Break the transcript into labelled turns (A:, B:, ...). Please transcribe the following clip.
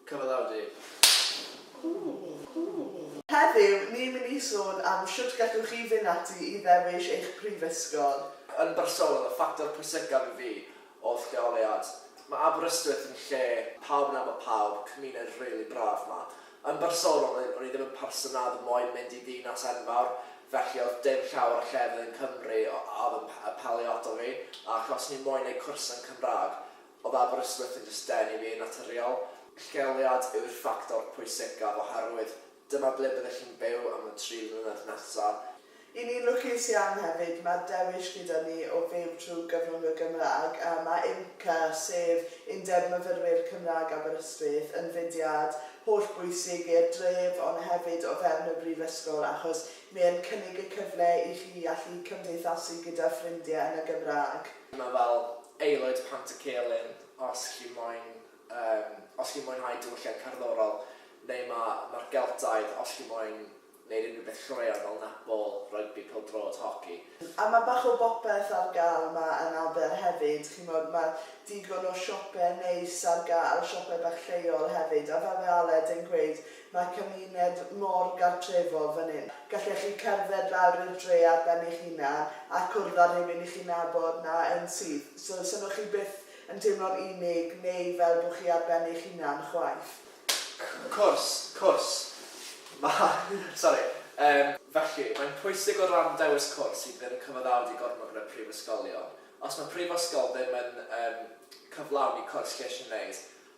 A: Cyfaddawd i. Heddiw, ni'n mynd i sôn am shwt gallwch chi fynd ati i ddewis eich prifysgol. Yn bersonol, y ffactor pwysicaf i fi oedd lleoliad. Mae Aberystwyth yn lle pawb yn nabod pawb, cymuned rili braf 'ma. Yn bersonol, o'n o'n i ddim yn person a oedd moyn mynd i ddinas enfawr, felly oedd dim llawer o llefydd yn Cymru o- a oedd yn p- apelio ato fi, ac os o'n i'n moyn neud cwrs yn Cymraeg, Oedd Aberystwyth yn jyst denu fi yn naturiol? Lleoliad yw'r ffactor pwysicaf oherwydd dyma ble byddech chi'n byw am y tri mlynedd nesaf. Y'n ni'n lwcus iawn hefyd, mae'r dewis gyda ni o fyw trwy gyfrwng y Gymraeg, a mae UMCA, sef Undeb Myfyrwyr Cymraeg Aberystwyth, yn fudiad hollbwysig i'r dref ond hefyd o fewn y Brifysgol achos mae e'n cynnig y cyfle i chi allu cymdeithasu gyda ffrindiau yn y Gymraeg. Mae fel Aelwyd Pant y Celyn os chi moyn yym os chi'n mwynhau diwylliant cerddorol neu ma' ma'r Geltaidd os chi moyn neud unrhyw beth croeaw fel netball, rygbi, pêl-droed, hoci. A ma' bach o bopeth ar ga'l 'ma yn Aber hefyd ch'mod ma' digon o siope neis ar ga'l, siope bach lleol hefyd a fel mae Aled yn gweud Mae cymuned mor gartrefol fan hyn. Gallech chi cerdded lawr i'r dre ar ben eich hunan a cwrdd â rhywun i chi'n nabod 'na yn syth, so 'sen nhw chi byth yn teimlo'n unig neu fel bod chi ar ben eich hunan chwaith. Cwrs, cwrs. Mae, sori, yym, felly, mae'n pwysig o ran dewis cwrs i bydd yn cyfaddawd i gormod yn y prifysgolion. Os mae prifysgol ddim yn yym cyflawni cwrs lles i'w wneud,